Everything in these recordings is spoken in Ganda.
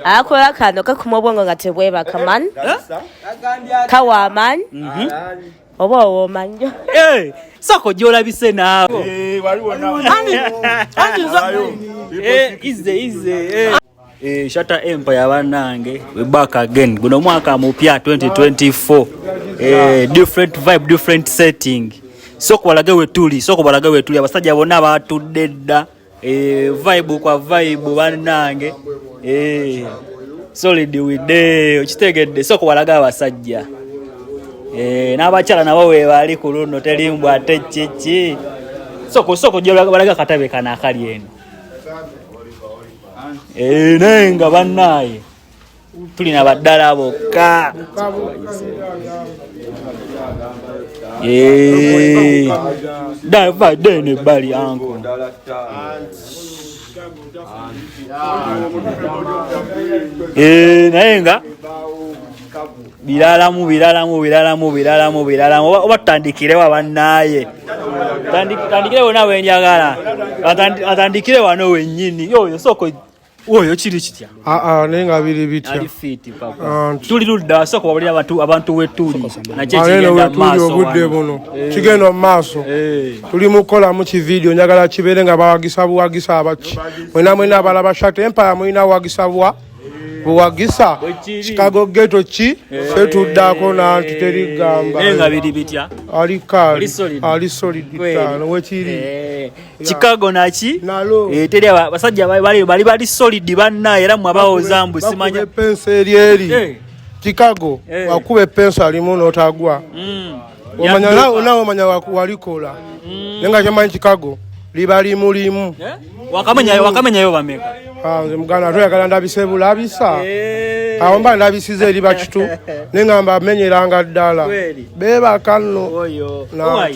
akola kano kakuma obwongo nga tebwebaka man kawa amanyi mhm. oba owomanyo eh, sako gyolabise naawe Eh, Shatta Empire banange we back again guno mwaka mupya 2024 eh, different vibe different setting soko balage wetuli soko balage wetuli abasajja bonna batudde dda Eh, vibe kwa vibe banange eh, solid wide okitegedde soko walaga abasajja eh, n'abakyala nabo webaali ku luno telimbw ate kiki soko soko gyewalaga katabe kana akali eno eh, naye nga bannaaye tuli na baddala bokka dene bali anko naye nga biralamu biralamu biralamu biralamu biralamu oba tutandikirewo abannaaye tandikirewo nawe njagala atandikire wano wenyini yoyo soko oyo kiri kitya ah, ah, naye nga biri bitya ah, tuli ludda sooka wabulira abantu wetuli nakyekigenda obudde buno eh. kigenda mu maaso eh. tuli mukukolamu kividiyo njagala kibeere nga bawagisa buwagisa abaki mwena mwena abalaba shate empaya mulina wagisa bwa buwagisa chicago geto ki fe eh. tuddako nanti teri gamba ali solid wekiri Chicago naki eh, teri abasajja bali bali bali solid banna era mwe abawoza mbu simanya penso eri eri eh. Chicago eh. wakube penso alimu notagwa mm. omanya nawo nawo omanya walikola mm. nenga kyamanyi Chicago libali mulimu eh? wakamenya mm. wakamenya yo bameka ah nze mugana toyagala ndabise bulabisa eh. awo mba ndabisiza eri bakitu nengamba amenyeranga ddala bebakano oyo no.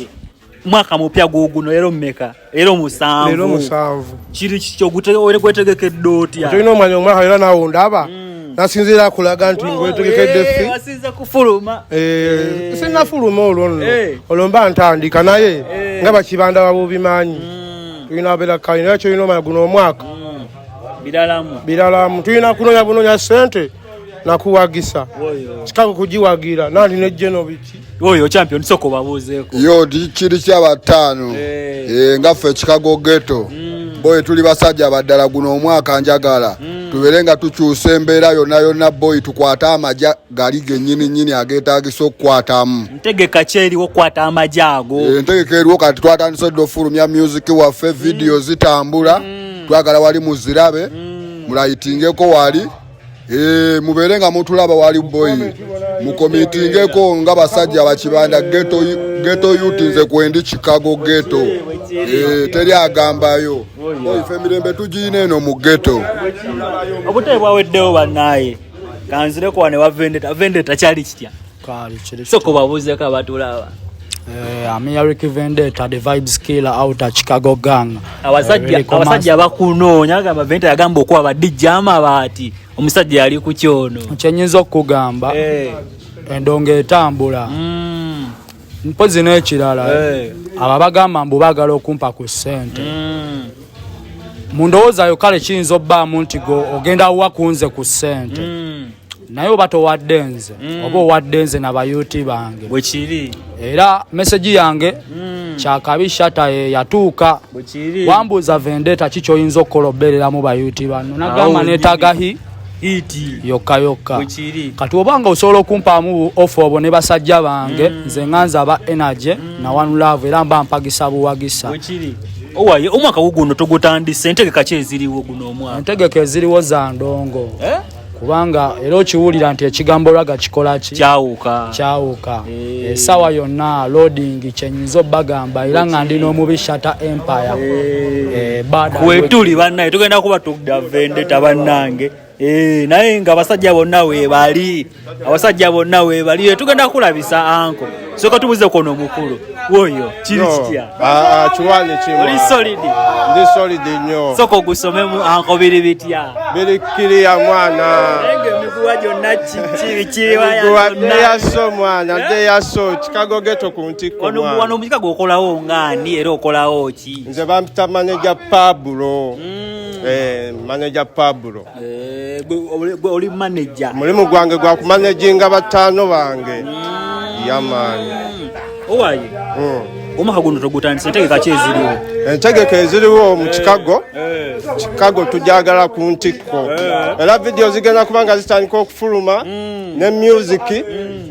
mwaka mupya guguno lero mmeka lero musanvu lero musanvu kiri kikyo gwetegekedde otya tolina omanya omwaka era nawe ndaba hmm. nasinziira kulaga nti ngwetegekedde fi eh, asinza kufuluma eh, eh. sinafuluma olwo nno olwo mba ntandika naye nga bakibanda babubimanyi hmm. tulina abeera kali naye kyolina omanya guno omwaka hmm. biralamu biralamu tulina kunonya bunonya sente nakuwagisa kikago kugiwagira nali ne genoviki oyo champion soko babuzeeko yo kiri kyabataano eh. eh, nga ffe kikago geto mm. boyi tuli basajja baddala guno omwaka njagala mm. tubeere nga tukyusa embeera yonna yonna boyi tukwate amaja gali genyini nyini agetagisa okukwatamu ntegeka kyeriwo okukwata amaja ago eh, entegeka eriwo kati twatandise dda ofulumya music waffe vidiyo mm. zitambula twagala wali muzirabe mulayitingeko wali Hey, eh, mubeere nga mutulaba wali boyi mukomitingeko nga basajja bakibanda geto yuti nze kwendi chicago geto hey, eh, teri agambayo ife mirembe tugiyina eno mu geto obutebe bwaweddewo banaye kanzirekowa ne wavendeta vendeta kyali kitya kale kiri soko babuze ka batulaba eh amia Ricky Vendetta the vibes killer out of Chicago gang abasajja eh, abasajja bakunoonya gamba Vendetta yagamba okuwa ba DJ amabati omusajja yali ku kyono kyenyinza okugamba eh endonga etambula mm. mpozi n'ekirala eh. abo abagamba mbu baagala okumpa ku ssente mm. mu ndowoozayo kale kiyinza obbaamu nti go ogenda wa kunze ku ssente mm. naye oba towadde nze mm. oba owadde nze na bayuti bange bwekiri era meseji yange mm. kyakabi shata yatuuka wambuuza vendeta ki kyoyinza okukola obeereramu bayuti banno nagamba netagahi yokka yokka kati oba nga osobola okumpaamu ofe obwo ne basajja bange mm. nze nganza aba energy mm. na one love era mba mpagisa buwagisa owaye omwaka guguno togutandise entegeka ki eziriwo guno omwaka entegeka eziriwo za ndongo eh? kubanga era okiwulira nti ekigambo raga kikola ki kyawuka kyawuka eh. esawa yonna loading kyenyinza obagamba era nga ndi n'omubi shata empire eh. Eh, wetuli bannaye tugenda kuba tugda vendeta bannange naye nga abasajja bonna webali abasajja bonna webali tugenda kulabisa anko soka tubuze kono mukulu woyo kiri kitya ah, ah kiwani kimu oli solid ndi solid nyo soka ogusome mu anko ah, biri bitya biri kiri ya mwana enge mikuwa jonna kiri kiri wa ya mwana ya so mwana eh? de ya so chicago ghetto ku ntiko ono wano mujika gokolawo ngani era okolawo ki nze bampita manager pablo mm. eh manager pablo Eh, gwe oli manager mulimu gwange gwa kumanaginga bataano bange yamaani owaye hmm. omwaka guno togutandisa entegeka ki eziriwo entegeka eziriwo mu eh, chicago eh. chicago tujagala ku ntikko era vidiyo zigenda kuba nga zitandika okufuluma hmm. ne musiki hmm.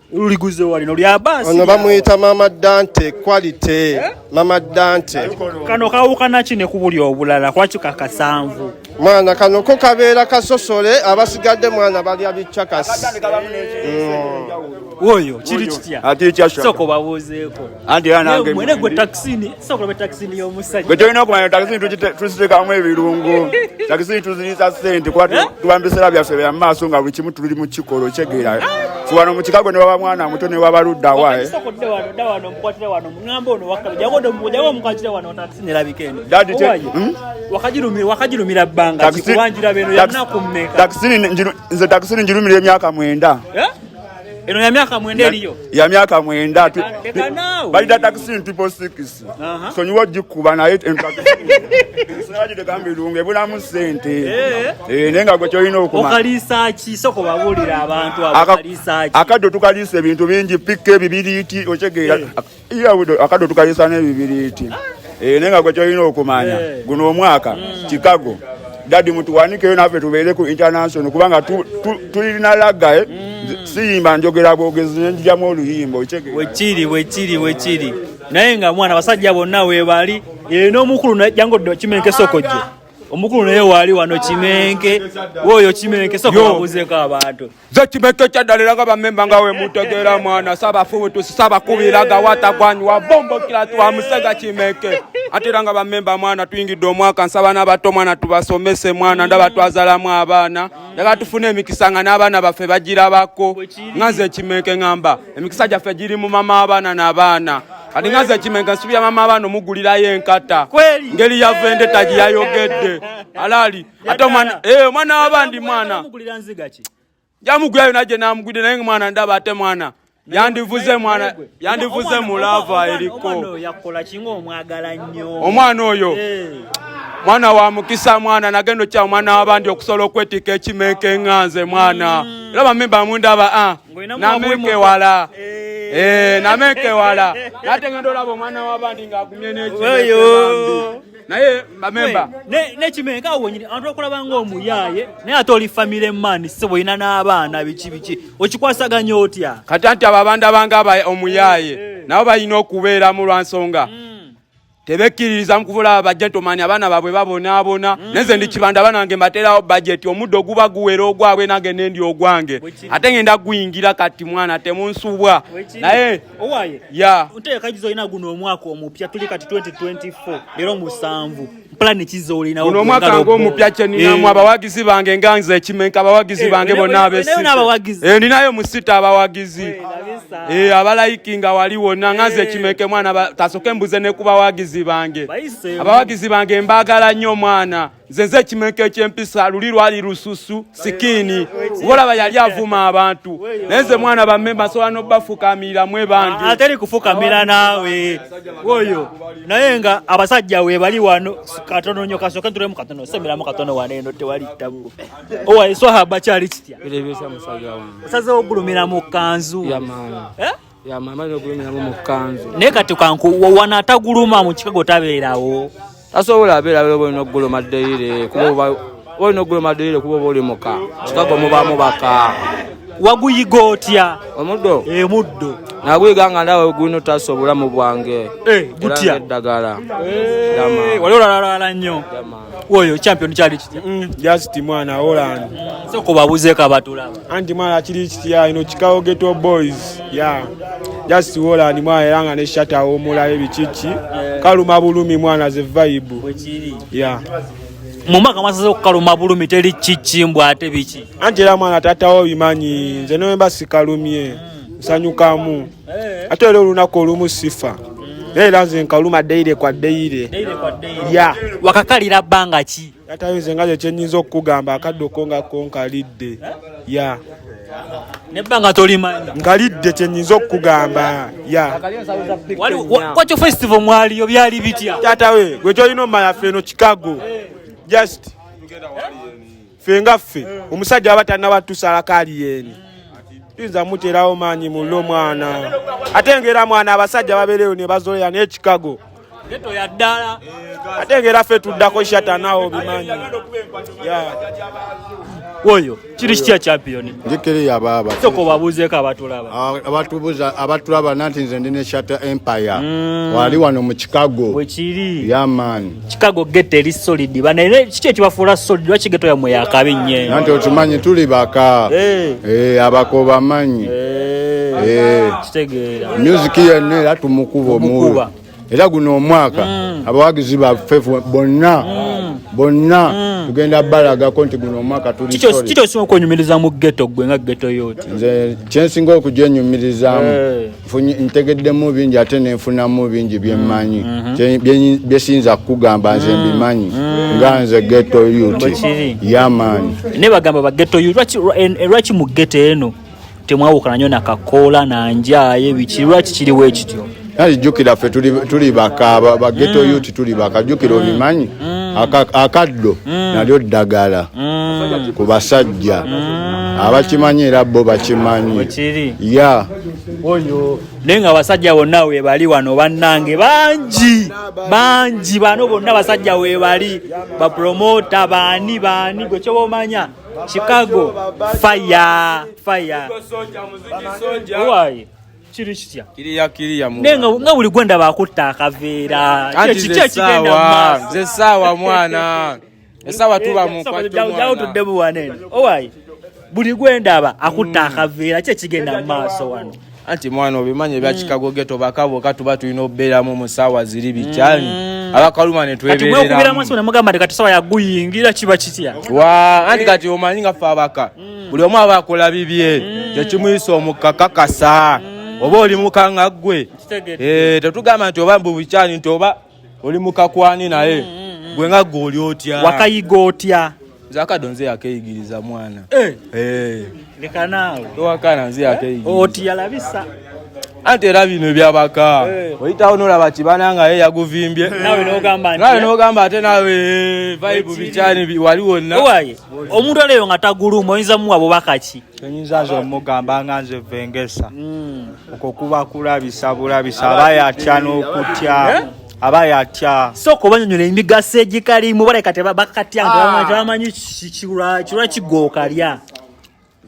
luliguze wali no lya basi ono bamuyita mama dante quality eh? mama dante kano kawukana ki ne kubuli obulala kwaki kakasanvu mwana kano ko kabeera kasosole abasigadde mwana balya bichakasi mm. oyo kiri kitya ati kyasha soko babuzeeko andi anange mwene gwe taxini gwe tolina okumanya takisini tuziteekamu ebirungo takisini tuziriisa sente kuba eh? tuba mu biseera byaffe bya maaso nga buli kimu tuli mu kikolo kyegeera wano mu kikago ne waba mwana muto ne waba ludda wae nze takisini njirumira emyaka mwenda eh? Eno ya miaka mwenda eliyo. Ya miaka mwenda tu. Leka nawe. Bali data kisi ntipo sikisi. Uh -huh. So nyiwa jikuba na hit enka kisi. Sinaji de kambi lunge bula musente. Eh. Eh nenga gwe kyo ino okuma. Okalisa ki soko babulira abantu abo kalisa ki. Akado tukalisa ebintu bingi pikke bibiri ti ochegeera. Eh. akaddo tukayisa n'ebibiriiti eh, naye nga gwe kyolina okumanya eh. guno omwaka mm. chicago dadi mutuwanikeyo naffe tubeere ku international kubanga tulina lagae eh. mm. siyimba njogera bwogezi nenjijamu oluyimba wekiri wekiri wekiri naye nga mwana basajja bonna webali nomukulu jangu kimenkesokojje omukulu naye waali wano kimenke woyo kimenke soka wabuzeko abantu zekimeto ekyaddalira nga bamemba nga wemutegeera mwana sabafubutusi sabakubira nga watagwanyiwa bombokira tuwa musega kimeke ate era nga bamemba mwana tuyingidde omwaka nsaba n'abato mwana tubasomese mwana ndaba twazalamu abaana yaga tufune emikisa nga n'abaana baffe bagirabako nga nze ekimeke ngamba emikisa gyaffe giri mu mama abaana n'abaana kati nga nze ekimeke nsubira mama abaana omugulirayo enkata ngeri yavende tagiyayogedde alaali ate omwana eh, omwana wabandi mwana jamugulayo naje namugwide naye mwana ndaba ate mwana yandivuze mwana yandivuze mulava eriko omwana oyo eh. mwana wa mukisa mwana nagenda okya omwana wabandi okusobola okwetika ekimeka enganze mwana mm. era bamemba mundaba ah, nameke wala eh. eh, nameke wala nategenda olaba omwana wabandi ngaagumye nekio naye bamemba nekimenga awo wenyini abantu bakulaba ngaomuyaaye naye ate oli family man sebo olina n'abaana biki biki okikwasaganya otya kati anti abo abantu abanga omuyaaye eh, eh. nabo balina okubeeramu lwa nsonga hmm. tebekkiririza mukuvula bagentomani abaana babwe babonaabona hmm. neze ndi kibanda banange mbaterawo bajeti omuddo guba guwera ogwabwe nange nendi ogwange ate ngenda guyingira kati mwana temunsubwa naye owaye ya nteeka gizo olina guno omwaka omupya tuli kati 2024 leero musanvu pulani kizo olina guno omwaka ng'omupya kye ninamu eh. abawagizi bange nga nze ekimenka abawagizi eh, bange bonna abesinabawagizi eh, ninayo musita abawagizi abalayikinga wali wonna nga nze ekimenke mwana tasoke mbuze ne ku bawagizi bange abawagizi bange mbaagala nnyo omwana nzenze ekimenke ekyempisa luli lwali lususu sikini wolaba yali avuma abantu naye nze mwana bamemba nsobola nobafukamira mwe bangi ah, ateri kufukamira naawe oyo naye nga abasajja we bali wano katono nyo kasoke nturemu katono semiramu katono wana eno tewali ttabu owaiswahaba kyali kitya osazewo ogulumira mu kanzu eh? naye kati wanaataguluma mu kikago tabeerawo tasobola abeera abeera oba olina okuguluma ddeire kuba olina okuguluma ddeire kuba oba oli muka kikago mubaamu baka waguyiga otya omuddo emuddo eh, naguyiga nga ndawe gulina otaasa obulamu bwange eh, gutya eddagala eh, wali olalala nnyo oyo champion kyali kitya mm, just mwana holland so kubabuze kabatula anti mwana kiri kitya ino chicago ghetto boys yeah just holland mwana era nga ne shata omula ebikiki yeah. kaluma bulumi mwana ze vibe wekiri yeah mumaka mwasaze okukaluma bulumi teri kiki mbu ate biki anti era mwana tatawo bimanyi nze noyemba sikalumye mm. sanyukamu eh. ate era olunaku olumu sifa naye era nze nkaluma deire kwa deire ya wakakalira bbanga ki yatayo nze nga kyekyenyinza okukugamba akaddo ko nga ko nkalidde eh? ya nebbanga tolimanyi nkalidde kyenyinza okukugamba ya kwakyo festival mwaliyo byali bitya tatawe gwe kyolina omumala ffe eno chicago eh. just ffe nga ffe omusajja aba tanaba tusala kali yeni tuyinza muterawo maanyi mulle omwana ate ngera mwana abasajja babeereyo ne bazoya n'ekikago ate ngera ffe tuddako shatanawo bimanyi oyo kiri kitya champion njikiri yababa soko babuze ka batulaba ah, abatubuza abatulaba nanti nze ndine shata empire mm. wali wano mu chicago wekiri ya yeah, man Chicago ghetto eri solid bana era kiki ekibafuula solid lwaki ghetto yamwe yakabi nnyo nanti okimanyi tuli baka eh. Eh, abako bamanyi eh. music yenna era tumukuba omuwe era guno omwaka mm. abawagizi baffe bonna mm. bonna mm. tugenda balagako nti guno omwaka tulikiki osinga okunyumiriza mu ghetto gwe nga ghetto yoti nze kyensinga okugyenyumirizamu ntegeddemu bingi ate nenfunamu bingi byemmanyi mm, mm-hmm. byesiyinza kukugamba nze mm, mbimanyi mm. nga nze geto ut yamaani ne bagamba bageto ut lwaki eh, eh, mu geto eno temwawukana nyo nakakoola nanjaye biki lwaki kiriwo ekityo nali jjukira ffe tuli baka bageto ut tuli baka jjukira obimanyi akaddo nalyo ddagala ku basajja abakimanyi era bo bakimanyi ya oyo naye nga abasajja bonna webali wano bannange bangi bangi bano bonna abasajja webali bapromota baani baani gwe kyoba omanya chicago fire fire owaye kiri kitya naye nga buli gwenda bakutta akaveera kiki ekigenda mu maaso mwana esawa tuba mu kwa jawo tudde buwane owayi buli gwendaba akutta mm. akaveera ki ekigenda mu maaso wano anti mwana obimanyi ebya mm. chicago geto bakabo katuba tulina okubeeramu mu saawa ziri bikyali mm. abakaluma netwebereramugambo ti kati sawa yaguyingira kiba kitya wa anti kati omanyi nga fe abaka buli omu aba akola bibye kyekimuyisa omukakakasa oba oli mukanga gwe eh, tetugamba nti oba mbubukyali nti oba oli mukakwani naye mm, mm, mm. gwe nga gwe oli otya wakayiga otya nze akado nze yakeyigiriza mwana eh. Eh. leka naawe towakana nze yakeyigiriza oti yalabisa anti era bino ebyabaka eh. oyitawo nolaba kibana nga ye yaguvimbye nawe nogamba ate nawe vibe bikyani wali wonna omuntu aleyo nga taguluma oyinza muwa bubakaki enyinza nze omugamba nga nze vengesa mm. okwo kuba kulabisa bulabisa aba yatya n'okutya eh? aba yatya sooka obanyonyola emigaso egikalimu baleka tebakatya ah. tebamanyi kirwa kigookalya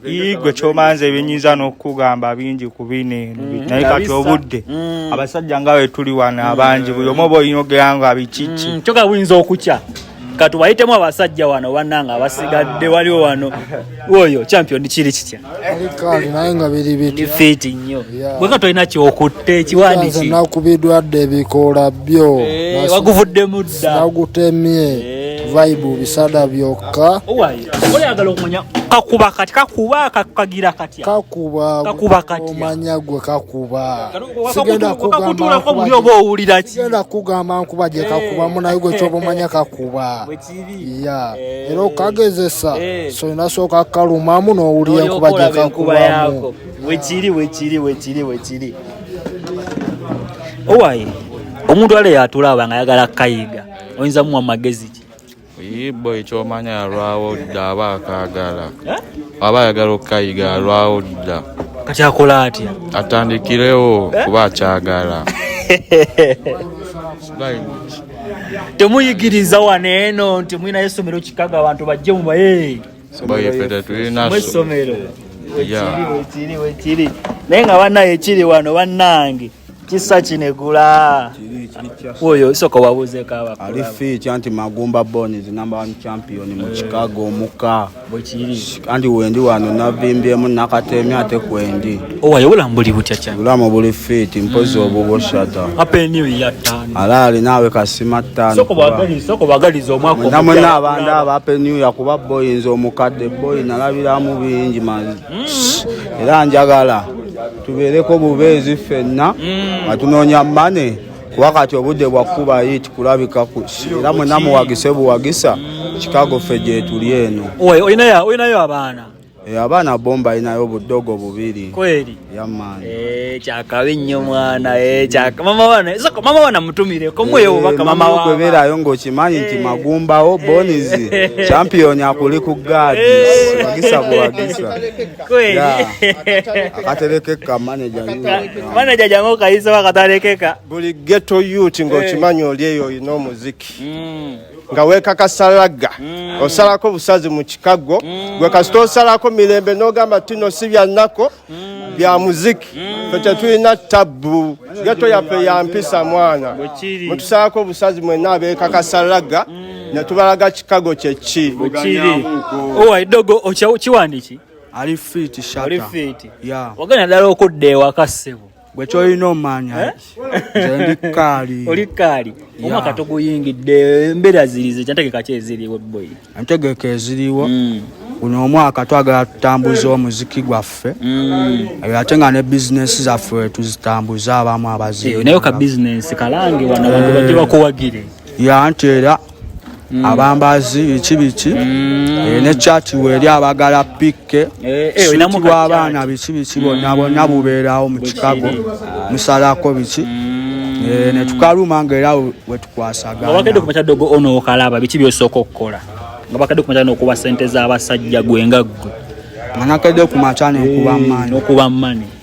igwe kyomanze ebinyinza n'okukugamba bingi ku bino eno mm. naye kati obudde mm. abasajja nga wetuli wano abangi buli omu oba oyinogera nga bikiki mm, kyoka buyinza okukya kati wayitemu abasajja wano bananga abasigadde waliwo wano oyo champion kiri kitya fiti nnyo bweka tolina kyokutte ekiwandiki nakubidwadde ebikoola byo eh, waguvuddemu dda nagutemye eh. vibe bisada byokka oyagala okumanya kakuba kati kakuba kagira kati kakuba kakuba kati omanya gwe kakuba sigenda kugamba ko buli obo owulira ki sigenda kugamba nkuba je eh. kakuba muna yugo kyo bomanya kakuba ya eh. ero kagezesa eh. so inasoka kaluma muno owulira nkuba je kakuba yako wekiri wekiri wekiri wekiri owaye omuntu ale yatulaba nga yagala kayiga oyinza muwa magezi ki Ibo ekyomanya alwawo dda aba akaagala eh? aba ayagala okukayiga alwawo dda kati akola atya atandikirewo eh? kuba akyagala temuyigiriza wano eno nti mulinayo essomero kikaga abantu bajje mubaye mwesomero wekiri wekiri wekiri naye nga banaye ekiri wano banange kisa kinegula oyo soka wabuzeeko abakulu ali fiikya nti magumba bonis number one champion mu eh. chicago omuka anti wendi wano navimbyemu nakateemi ate kwendi owaye oh, obulamu buli butya kyane obulamu buli fiiti mpozi hmm. obubushata ala alinaawe kasima ttaanonamwena abandi aba ape new yakuba boyinza omukadde boyi nalabiramu bingi era njagala tubeereko bubeezi ffenna nga tunoonya mane kuba kati obudde bwakkuba yit kulabika kusi era mwena muwagise buwagisa kikago ffe gyetuli eno olinayo abaana eh, abaana bomba alinayo obudogo bubiri yama Eh, kyakabi nnyo mwana eh, kyaka mama wana soko mama wana mutumire ko mwe eh, obaka mama wa kwebera ayo ngokimanyi nti magumbawo boniz champion akuli ku guard bagisa bwagisa kweli akatelekeka manager manager jango kayisa bakatalekeka buli ghetto youth ngokimanyi oli eyo ino muziki mm. nga wekakasalaga mm. osalako busazi mu kikago mm. gwe kasita osalako mirembe nogamba tino si byanako mm. bya muziki mm. fe tetulina tabbu geto yaffe ya mpisa mwana mutusaako obusazi mwenna abeekakasalaga mm. ne tubalaga kikago kyeki owa edogo okiwandiki ali fiti shata ali fiti yeah. wagana dala okudda ewaka ssebo gwe kyolina omanya eh? ndi kaali oli kaali omwaka toguyingidde embeera zirize kyantegeka ki eziriwo boyi entegeka eziriwo hmm. guno omwaka twagala tutambuze omuziki gwaffe hmm. eh, ate nga ne bizinesi zaffe tuzitambuze abamu abaziinaye eh, ka bizinesi kalange wano abantu bajje bakuwagire ya nti era Mm. abambazi biki biki mm. eh, ne chati weri abagala pikke eh, eh, suti bw'abaana biki biki bonna mm. bonna bubeerawo mu chicago ah. musalako biki mm. ne tukaluma nga era wetukwasagaabakadde kumakyadogo ono okalaba biki byosooka okukola nga bakadde kumakya nokuba sente z'abasajja gwe nga ggwe nga nakedde kumakya nokuba mani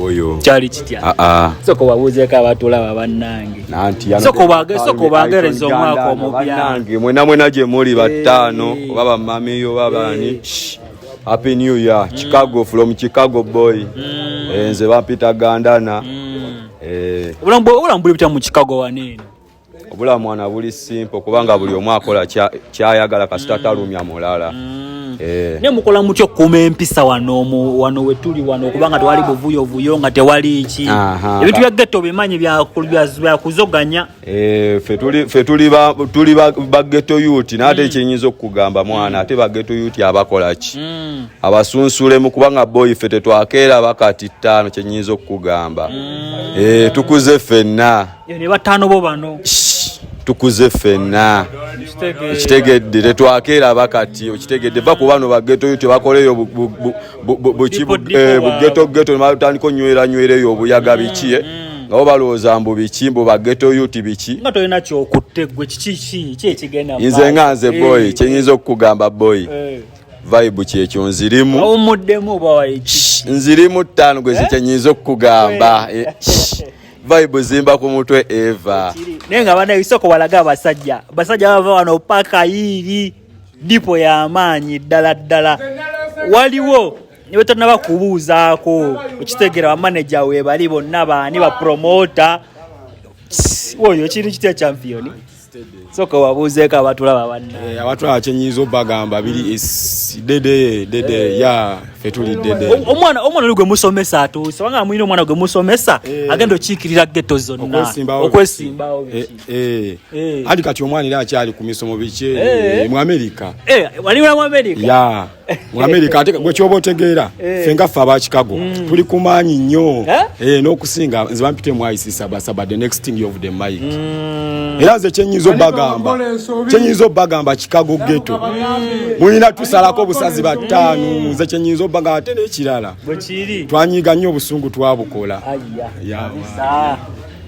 oyo kyali kitya ah, ah. soko wabuuzeeko abatulaba bannange soko bagereza omwaka omubyange mwena mwena gye muli battaano oba bamamiyo oba baani happy new year mm. chicago from chicago boy mm. eh, nze bampita gandana mm. eh. obulamu buli butya mu chicago waneeno obula mwana buli simple kubanga buli omu akola kyayagala kasita mm. talumya mulala mm. eh. ne mukola mutya okukuuma empisa wano wano wetuli wano okubanga tewali buvuyo vuyo nga tewali ki ebintu bya getto bimanyi byakuzoganya eh, fe tuli bagetto yuti naate mm. kyenyinza okukugamba mwana ate bagetto yuti abakola ki abasunsulemu kubanga boyi fe tetwakeera bakati ttaano kyenyinza okukugamba eh, tukuze fenna ne bataano bo bano tukuze ffenna ekitegedde tetwakeeraba kati okitegedde va ku bano bagetoyo tebakoleyo bugetogeto nebatandika onyweranywerayo obuyaga biki eh? mm. nga bo balowooza mbu biki mbu bagetoyo ti biki nze nga nze eh. boyi kyenyinza okukugamba boyi eh. vibe kyekyo nzirimu nzirimu ttaano gweze kyenyinza okukugamba vibe zimba ku mutwe eva naye nga bana isoko walaga abasajja basajja bava wano paka yiiri dipo y'amaanyi ddala ddala waliwo nebetonaba kubuuzaako okitegera bamaneja webali bonna baani bapromota oyo kintu kitya championi soka wabuuzeeko abatulaba banne abatulaba kyenyiza obagamba biri dede dede ya fe tuli dede omwana omwana oli gwe musomesa atuuse wanga amuyina omwana gwe musomesa agenda okiikirira geto zonna okwesimbawo andi kati omwana era akyali ku misomo biki mu amerika waliwo mu amerika mu amerika ate gwe kyoba otegeera eh. ffe nga ffe aba chicago mm. tuli kumaanyi nnyo eh? Eh, n'okusinga nze bampite mu isisabasaba the next thing of the mike mm. era nze kyenyinza obagamba kyenyinza obagamba chicago geto mulina tusalako obusazi bataano mm. nze kyenyinza obagamba ate n'ekirala twanyiga nnyo obusungu twabukola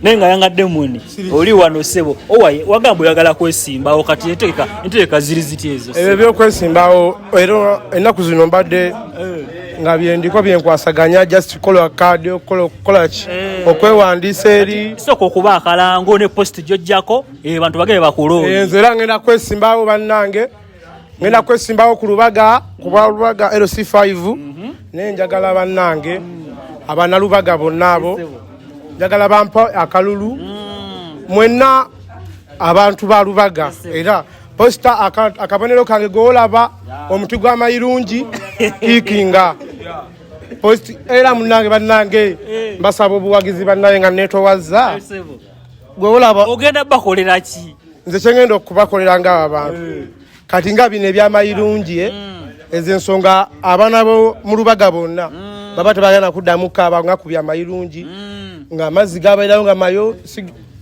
naye nga yanga demoni oli wano sebo owaye wagamba oyagala kwesimbawo kati entegeka entegeka ziri ziti ezo ebyo byokwesimbawo era ennaku zino mbadde eh. nga byendiko byenkwasaganya just kola kadi okukola ki eh. okwewandiisa eri sooka okuba akalango ne post gyojjako eh, bantu bagee bakuloo enze era ngenda kwesimbawo bannange ngenda kwesimbawo ku lubaga kuba lubaga lc5 mhm. naye njagala bannange abana lubaga bonna abo njagala bampa akalulu mm. mwenna abantu ba lubaga era posita akabonero kange gowolaba omuti gw'amayirungi ikinga post era munange bannange eh. mbasaba obuwagizi bannange nga netowazza gwewolaba ogenda bakolera ki nze kyengenda okubakolera nga abantu eh. kati nga bino ebyamayirungi eh, mm. ezo ensonga abaana bo mu lubaga bonna mm. baba tebagenda kuddamu kaaba nga ku byamayirungi mm. nga amazzi gabairayo nga mayo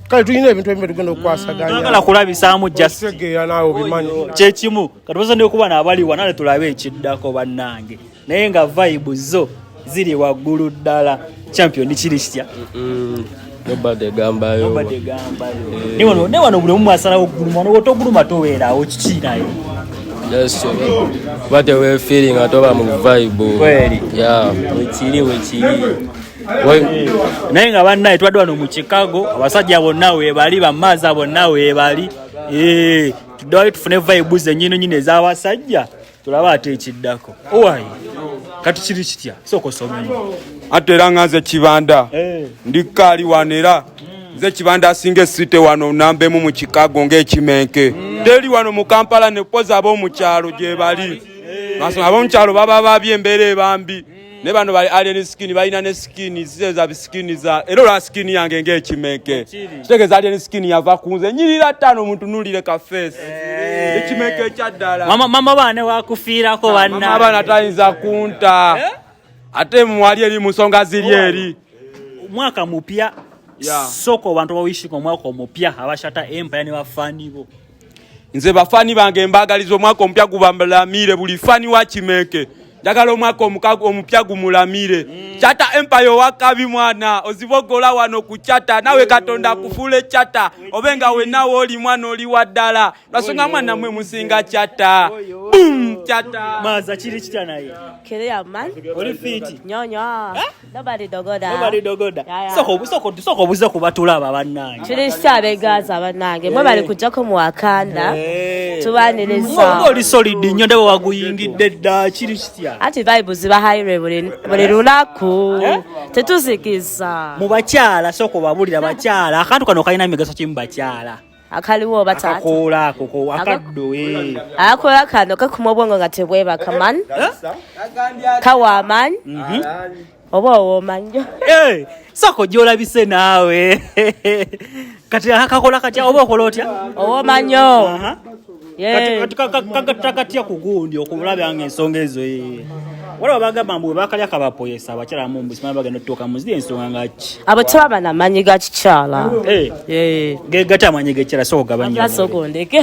kale tulina ebintu ebimu byetugenda okukwasaganyagala kulabisaamu jastegeera naawe obimanyi kyekimu kati baza nekuba naabaliwa nale tulabe ekiddako bannange naye nga vibe zo ziri waggulu ddala champion kiri kitya newano buli omu asalawo okuguluma noba otoguluma toweerawo kiki naye kuba tewefiiri nga toba mu vibe wekiri wekiri naye nga bannaye twadde wano mu chicago abasajja bonna webali bamaaza bonna webali eh, tuddewayo tufune vibe zenyini nyini ez'abasajja tulaba ate ekiddako owayi kati kiri kitya sooka osomemu ate era nga nze kibanda eh. ndi kaali wano era nze kibanda asinga esite wano nambemu mu chicago ngaekimenke teri wano mu kampala nepoza abomukyalo gyebali eh. abamukyalo baba babye embeera ebambi ne bano bali alien skin balina ne skin zeza bisikini za era olaba skin yange ng'ekimenke kitegeeza alien skin yava ku nze nyirira ttaano omuntu nulire ka face eh. ekimenke ekya ddala mama baane wakufiirako ah, banna abaana tayinza kunta eh? ate mwali eri mu nsonga ziri eri mwaka mupya soko bantu bawishika omwaka omupya abashata empaya ne bafanibo nze bafani bange mbagaliza omwaka omupya gubalamire buli fani wa kimenke njagala omwaka omupya gumulamire mm. chata empire owakabi mwana ozibogola wano ku chata nawe katonda akufule chata obe nga wenawe oli mwana oli wa ddala lwasonga mwana mwe musinga chata bum chata maza kiri kitya naye kere aman oli fiti nyonyo eh? Nobody dogoda. Nobody dogoda. Yeah, yeah. Soko soko soko buzo kubatula babanange. Chili sabe gaza banange. Mwe bali kujja ko mu akanda. Hey. Tubaneleza. Ngo oli solid nyo ndabo waguyingidde dda chili kitya. Ati vibe ziba high buli buli lulaku. Eh? Tetuzikiza. Mu bakyala soko babulira bakyala. Akantu kano kalina migaso kimu bakyala. akaliwo oba taata akakoola ako ko akaddo eh. akakoola kano kakuma obwongo nga tebwebaka man kawa amanyi mhm. oba owomanyo eh, sako gyolabise naawe kati akakola katya oba okola otya owomanyo Eh. kagatira katya kugundi okulabya nga ensonga ezo eh. waliwo bagamba mbu webakalya kabapoyesa abakyala mumbusimaa bagenda otutuuka muziri ensonga ngaki abakyala bana amanyi ga kikyala eh. gegati amanyi gekyala sokugabanyasogondeke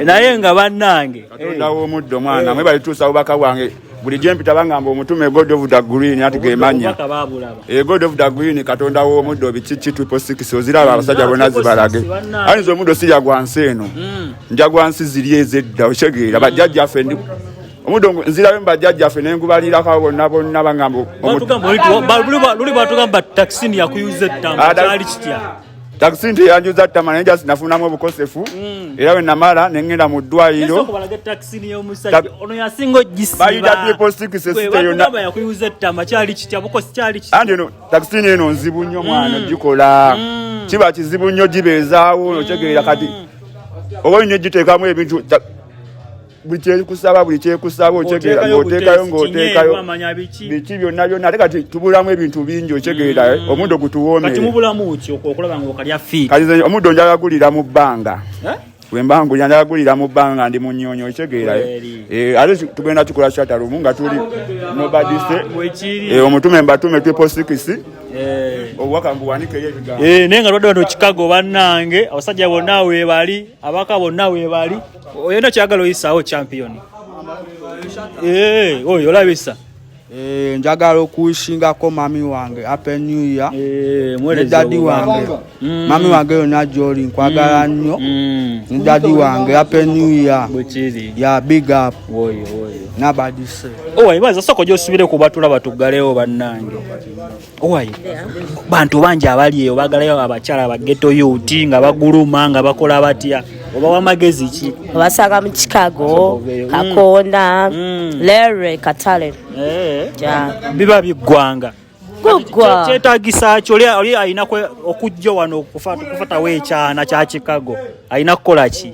naye nga bannange katonda w'omuddo mwana mwe balituusa bubaka bwange buli gyempita bangamba omutume god of the green ati gemanya eh, god of the green katonda w'omuddo bikiki triple six oziraba abasajja bona zibalage ayinza omuddo sirya gwa nsi eno hmm. nja gwa nsi ziri ezedda okitegeera bajjajjaffe ndi omudo nzirayo mbajajja ffe nengubalirako bonna bonna bangamba luli bwatugamba taxini yakuyuza ettamu kyali kitya takisi nti yanjuza ttama naye just nafunamu obukosefu mm. era we namala ne ŋŋenda mu ddwaliro anti eno takisini eno nzibu nnyo mwana ogikola mm. mm. kiba kizibu nnyo gibeezaawo otegeera kati oba olina egiteekamu ebintu buli kyekusaba buli kyekusaba okyegeera ng'oteekayo ng'oteekayo biki byonna byonna ate kati tubulamu ebintu bingi okyegeera eh? mm. omuddo gutuwoomereomuddo njala gulira mu bbanga eh? wemba ngulira njala gulira mu bbanga ndi mu nnyonyi okyegeera eh? ate tugenda kikola kyatalumu nga tuli nobadise omutume mbatume tweposikisi Eh. obubaka mbuwanikeyo ebigambo eh, naye nga lwadde wano kikago bannange abasajja bonna webali abaka bonna webali oyenda kyagala oyisaawo champion eh, oyo olabisa eh, njagala okuwishingako mami wange happy new year eh, ne dadi wange mm. mami wange yona gyoli nkwagala mm. nnyo mm. ne dadi wange happy new year ya big up nabadise owayibaza oh, soko gyosubire kubatula batuggalewo bannange owaye bantu bangi abali eyo bagalayo abakyala bageto yuti nga baguluma nga bakola batya oba wamagezi ki obasanga mu chicago mm. kakonda mm. lere katale eh. biba biggwanga kyetagisa kyo oli alina okujja wano okufatawo ekyana kya chicago alina kukola ki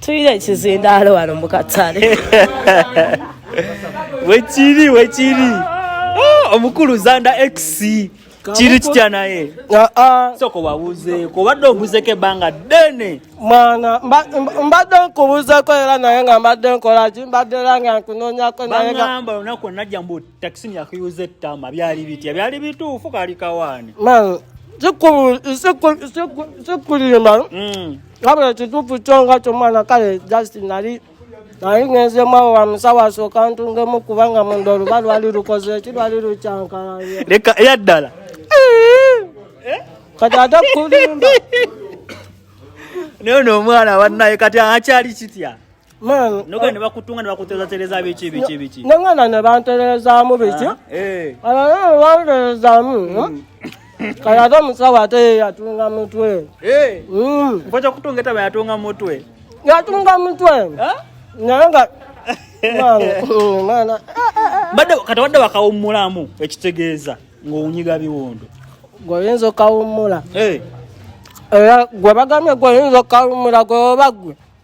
tulina ekizindaalo wano mu katale wekiri wekiri oh, omukulu zanda x kiri kitya naye ah, ah. soko wabuzeeko obadde obuzeko ebbanga ddene mwana mbadde nkubuzeko era naye nga mbadde nkolaki mbadde era nga nkunonyako nayeamba olunaku onajja mbu takisini yakuyuza ettama byali bitya byali bituufu kali kawaani sikulimba wabula ekituufu kyo nga kyomwana kale just nali naye ngenzemu awo wamusawasooka ntungemu kubanga munda oluba lwali lukoze eki lwali lukyankalanya leka eya ddala eh? kati ate kulimba naye no omwana wanaye kati akyali kitya Man, noga uh, nebakutunga nebakuterezatereza biki biki biki nengana nebanterezamu biki ah, eh. banterezamu hmm? hmm? kaya ate omusawo ate yatunga mutwe eh. hmm. mpoja kutunga etaba yatunga mutwe yatunga mutwe ah? naye nga badde kati wadde wakawummulamu ekitegeeza ng'owunyiga biwundu gweoyinza okawummula eh. era gwe bagambye gweoyinza okawummula gwe oba gwe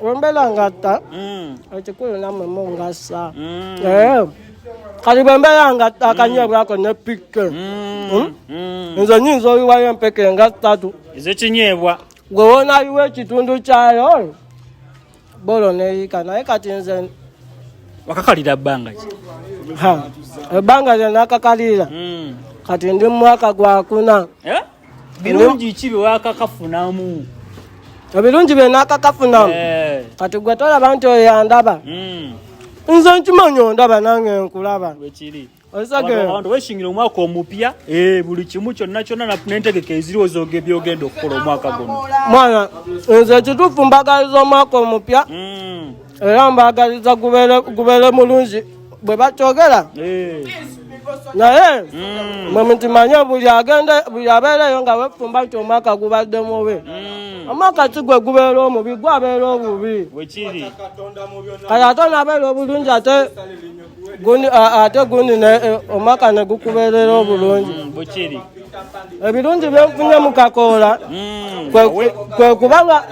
Wembela ngata. Mm. Ekikulu namwe mungasa. Mm. Eh. Kali wembela ngata mm. kanye bwako ne pikke. Mm. Hmm? Mm. Nzo nyinzo iwayo mpeke ngata tu. Izo chinyebwa. Gwe wona iwe kitundu kyayo. Bolo ne ikana ekati nze wakakalira bbanga ki ebbanga lyona akakalira hmm. kati ndi mumwaka gwakuna eh? birungi ki byewakakafunamu ebirungi byenakakafunamu eh. kati gwe tolaba nti oyo yandaba hmm. nze nkimanyi ondaba nange nkulaba weshingira omwaka omupya eh, buli kimu kyonna kyonna nentegeka eziriwo byogenda okukola omwaka guno mwana nze ekituufu mbagaliza omwaka omupya hmm. era mbaagaliza gubeere mulungi bwe bakyogera eh. naye mm. mwe mukimanye buli agenda buli abeereyo nga wefumba nti omwaka gubadde mubi mm. omwaka si gwe gubeera omubi gwabeera obubi kati ate naabeera obulungi ate ate gundi e, omwaka ne gukubeerera obulungi mm, bukiri ebirungi byenfunye mu kakoola mm, kwe kuba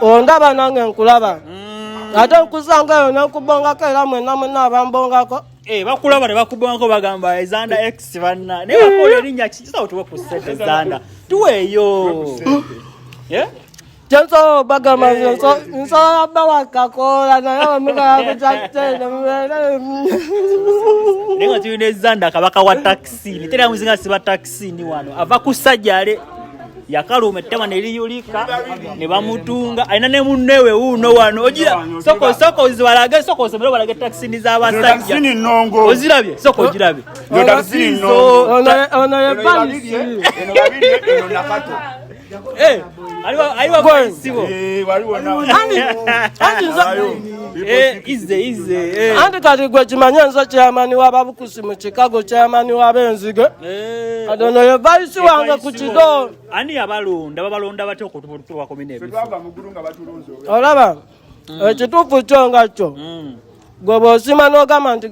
ondaba nange nkulaba mm. ate nkusanga eyo nenkubongako era mwena mwena abambongako eh, bakulaba ne bakubongako bagamba ezanda eh, x banna naye bakola erinnya kikisawo tuwe ku sente ezanda tuweeyo Janso baga ma so so ba wa ka ko la na ya mu ka ko ja te na mu na. Ne ko tuni zanda ka baka wa taxi. Ni tena muzinga siba taxi ni wano. Ava kusajale yakalu umetema ne liyulika ne bamutunga aina ne munnewe uno wano ojira soko soko ziwalage soko semero balage taxi ni za basajja ni nongo ozirabye soko ojirabye yo taxi ni nongo ona ona ya bali eno babiri eno nakato Eh, anti kati gwe kimanye nze kyamani wababukusi mu kikago kyamani wabenzige eh, kati ono ye vaisi eh, wange ku kigo ani yabalonda babalonda batya okutuakomnolaba mm. ekituufu kyo nga kyo mm. gwe bwosima nogamba nti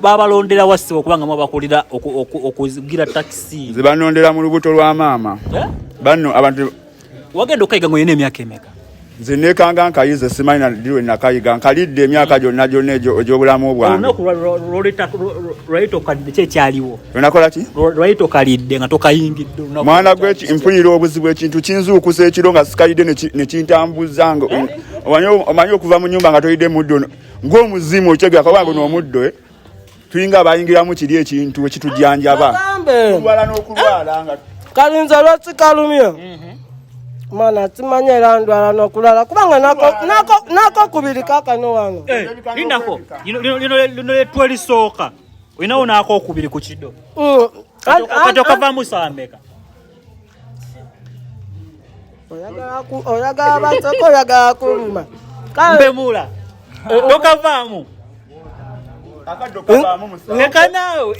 babalondera wa ssebo kubanga mu abakulira okugira takisi nze banondera mu lubuto lwa maama eh? banno abantu wagenda okayiga nga olina emyaka emeka nze nekanga nkayize simanyi nadiwe nakayiga nkalidde emyaka hmm. gyonna gyonna egyobulamu bwangeonakolaki mwana gwe mpulira obuzibu ekintu kinzuukusa ekiro nga sikalidde nekintambuza nga eh? omanyi okuva mu nyumba nga tolidde muddo ng'omuzimu okyegera kuba guno omuddo eh? tulinga abayingiramu kiri ekintu ekitujanjaba kulwala n'okulwala nga kalinza lwaki kalumye mhm. mana simanyi era ndwala nokulala kubanga nako kubiri kakano wano eh, lindako lino lyetwelisooka olinawo naako okubiri ku kido mm. kati okavamu saameka oyagala baseko oyagala kuluma mbemula tokavaamu leka naawe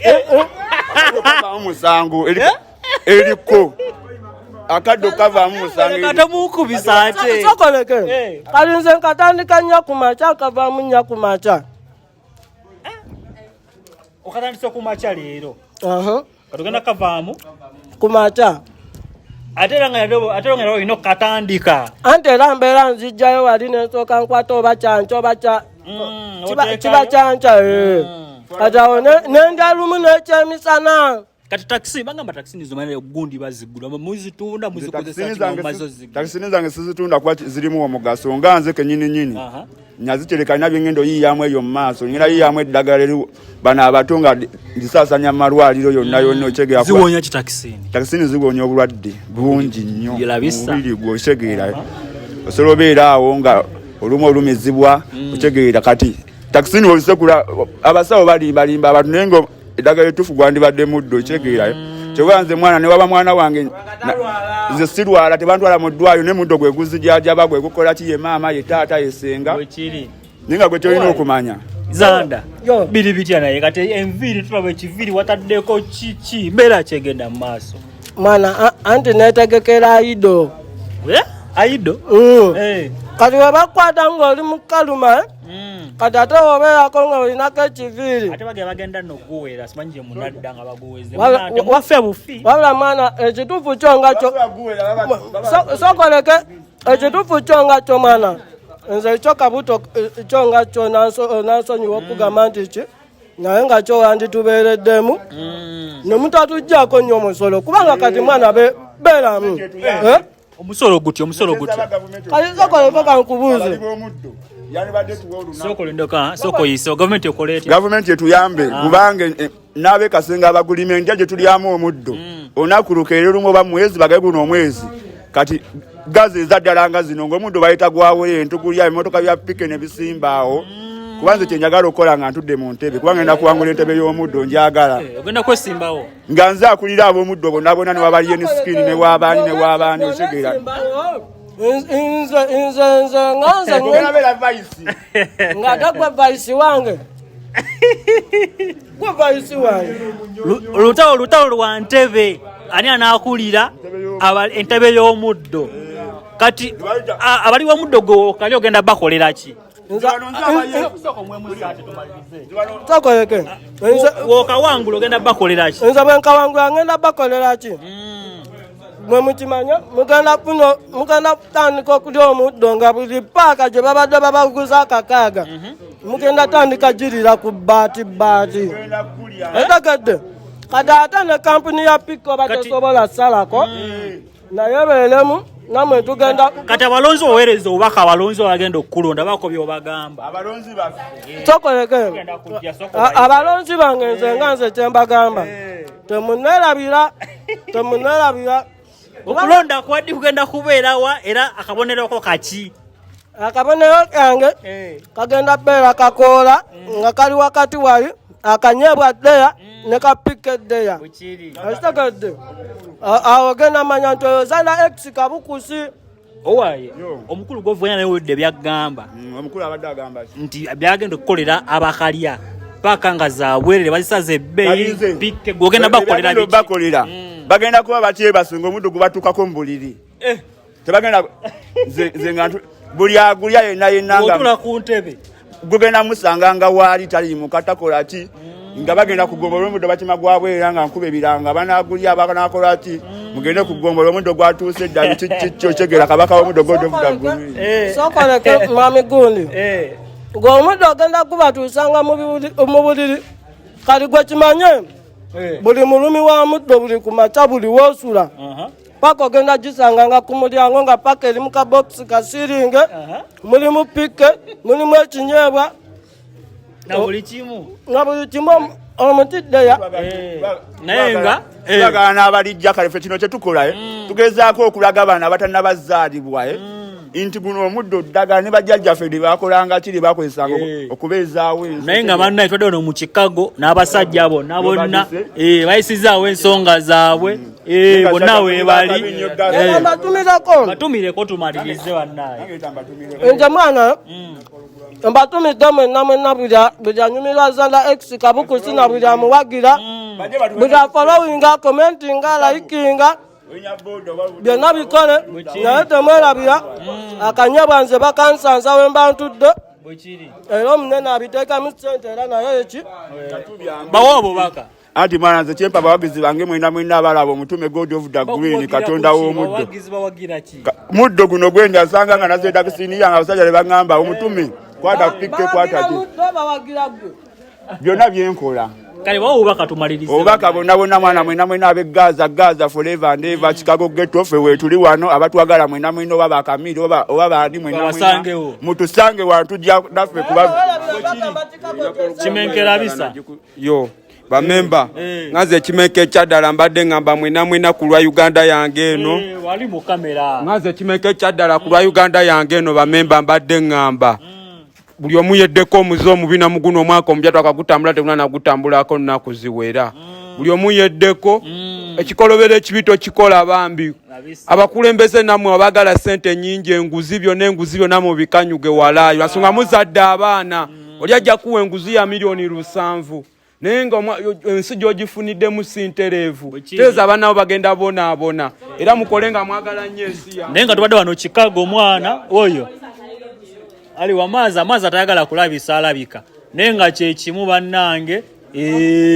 musango eriko akaddo kavaamu musangotomuukubisa ate sokoleke eh. kali nze nkatandika nya ku makya kavaamu nya ku makya okatandisa ku makya leero katugenda kavaamu kumata ate era nga era olina okukatandika anti era mbeera nzijjayo wali nensooka nkwata oba kyanca oba mm, kiba kyanca eh. mm. kati awo nenda lumu nekyemisana kati takisi bagamba takisi nizo mane gundi bazigula muzitunda muzikozesa kino mazo zigula takisi zange sizitunda kuba zirimu omugaso nga nze kenyini nyini nazitereka nina byengenda oyiyamu eyo mumaaso ngenda yiyamu eddagala eri bano abato nga ndisasanya mumalwaliro yonna yonna mm. otegeaziwonya kitakisini takisini ziwonya obulwadde bungi nnyo mubiri gwe okitegeera uh-huh. osobola obeera awo nga olumu olumizibwa mm. okitegeera kati takisini ozisekula abasawo balimbalimba abantu naye nga eddagala etuufu gwandibadde muddo kitegeerayo mm. kyekuba nze mwana newaba mwana wange nze sirwala tebantwala mu ddwayo ne muddo gwe guzijajaba gwe gukola ki ye maama ye taata ye senga naye nga gwe kyolina okumanya zanda biri bitya naye kati enviiri tulaba ekiviiri wataddeko kiki mbeera kyegenda mu maaso mwana anti netegekera aido aido mm. eh. kati webakwata ngaoli mukaluma eh? Mm. kati ate obeerako nga olinako ekiviiri wabula mwana ekituufu kyo nga kyo sokoleke ekituufu kyo nga kyo mwana nze ekyo kabuto kyo nga kyo nansonyiwa okugamba nti ki naye nga kyo wanditubeereddemu mm. ne mutatujjako nnyo omusolo kubanga kati mwana beeramu eh? omusolo guti omusolo guti gavumenti etuyambe ah. kubanga eh, naabe kasenga abagulima enja gye tulyamu omuddo hmm. olunaku lukeera olumu oba mwezi bagae guno omwezi kati gazi eza ddala nga zino ngaomuddo bayita gwawo entugulya ebimotoka bya pike ne bisimbaawo hmm. kubanze kyenjagala okukola nga ntudde mu ntebe kubanga enda kuwangula entebe y'omuddo njagala eh, ogenda kwesimbawo nga nze akulira ab'omuddo bonna bonna ne wabaliyo ne sikini ne waabaani ne waabaani otegeera nze nze nze nga nze nga tagwe vayisi wange gwe vayisi wange olutalo olutalo lwa ntebe ani anaakulira entebe y'omuddo kati abali b'omuddo gwe okali ogenda bakolera ki tokoleke wokawangula ogenda bakoleraki nze bwenkawangula ngenda bakoleraki hmm. mwe mukimanya mugenda kuno mugenda kutandika okulya omuddo nga buli paaka gye babadde babaguza akakaaga mhm. mugenda tandika girira ku bbaati bbaati etegedde kati ate ne kampuni ya pikko batesobola salako hmm. naye beeremu namwe tugenda kati abalonzi owereza obaka abalonzi bagenda okukulonda bako byobagamba abalonzi abalonzi bange nze nga nze kyembagamba eh. temunerabira temunerabira okulonda kwadi kugenda kubeerawa era akabonerako kaki akabonero kange eh. kagenda beera kakoola mm. nga kali wakati wali akanyebwa ddeya mm. ne kapika eddeya okitegedde awo genda manya nti oyo zana x kabukusi owaye omukulu gwovuganya naye wedde byagamba mm, nti byagenda okukolera abakalya paka nga zabwerere bazisaza ebbeyi gwogenda bakolera bagenda kuba batyebasunga omuddu gubatukako mubuliri eh. tebagenda nze nga buli agulya yenna yenna nga ku ntebe gugenda musanga nga waali tali mukatakola ki mm. nga bagenda kugombolola omuddo batima gwabwera nga nkuba ebiranga banagulya banakola ki mm. mugende kugombolola omuddo gwatuuse eddali kikyokyegera kabaka womuddo godovudagumwami eh. gundi eh. ng'omuddo ogenda gubatuusanga mu buliri kali gwe kimanye eh. buli mulumi wa muddo buli ku makya buli wosula paka ogenda gisanga nga ku mulyango nga paka eri mu kabokisi kasiringe mulimu pikke mulimu ekinyeebwa na buli kimu na buli kimu omutiddeya eh, naye nga eh. bagala n'abalijja kale fe kino kyetukola eh. mm. tugezaako okulaga abaana abatanabazaalibwa mm. nti guno omuddo oddagala ne bajjajjaffe lye bakolanga kiri bakozesanga okubeezaawo ensi naye nga bannaye twadde ono mu kikago n'abasajja bonna bonna bayisizaawo ensonga zaabwe mm. Eh, bonna weebali eh. mbatumireko batumireko tumalirize bannaye nze mwana mm. mbatumidde mwenna mwenna buli anyumirwa zala x kabukusi na buli amuwagira mm. buli afolowinga komentinga layikinga byonna bikole naye temwerabira mm. akanyabwa nze bakansanza wemba ntudde era omunene abiteekamu sente era naye eki bawa obubaka Ati mwana nze kyempa bawagizi bange mwena mwena abalaba omutume God of the Green katonda w'omuddo muddo guno gwenda nsanga nga nazeeda kisini yange abasajja ne baŋŋamba omutume kwata pikke kwata ki byonna byenkola kale bawo obubaka tumalirize obubaka bonna bonna mwana mwena mwena abe gaza gaza forever and ever chicago ghetto ffe weetuli wano abatwagala mwena mwena oba bakamiiri oba oba baani mwena Babasangewo. mutusange wantujja naffe kuba kimenkera bisa yo bamemba eh, eh. ngaze ekimeka ekyaddala mbadde ngamba mwina mwina ku lwa uganda yange eno eh, ngaze ekimeka ekyaddala ku lwa uganda yange eno bamemba mbadde ngamba mm. buli omu yeddeko omuze omubi namuguno omwaka omupya twakagutambula teguna nagutambulako nnaku ziwera mm. buli omu yeddeko mm. ekikolobero ekibi tokikola bambi abakulembeze namwe abagala sente nyingi enguzi byona enguzi byona mubikanyuge walaayo asonga muzadde abaana oli ajja kuwa enguzi ya miliyoni lusanvu naye nga ensi gyogifuniddemu sintereevu teeza abaana bo bagenda bonaabona era mukole nga mwagala nnyo ensi ya naye nga tubadde wano kikago omwana oyo ali wamaazi amaazi atayagala kulabisa alabika naye nga kyekimu bannange eh.